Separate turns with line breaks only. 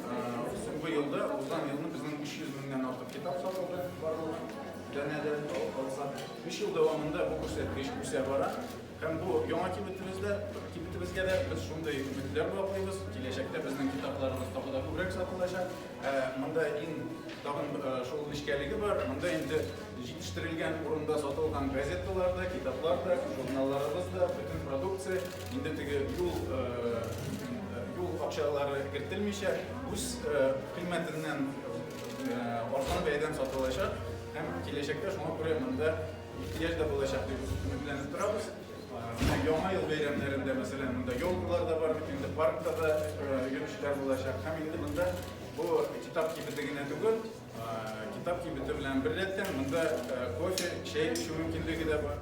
Соңгы елда, узган елны безнең 300 меңнән артык китап сатылды барлык данәдә. Өч ел дәвамында бу күрсәткеч үсә бара. Һәм бу яңа кибетебездә, кибетебезгә дә без шундый өметләр баглыйбыз. Киләчәктә безнең китапларыбыз тагы да күбрәк сатылачак. Ә монда иң тагын шул нечкәлеге бар, монда инде җитештерелгән урында сатылган газеталар да, китаплар да, журналларыбыз да, бөтен продукция. Инде теге юл юл акчалары кертелмичә, үз кыйммәтеннән арзан бәядән сатылачак һәм киләчәктә шуңа күрә монда ихтыяҗ да булачак дип өметләнеп торабыз. Яңа ел бәйрәмнәрендә, мәсәлән, монда елкалар да бар, инде паркта да йөрүчеләр булачак һәм инде монда бу китап кибете генә түгел, китап кибете белән беррәттән монда кофе, чәй эчү мөмкинлеге дә бар.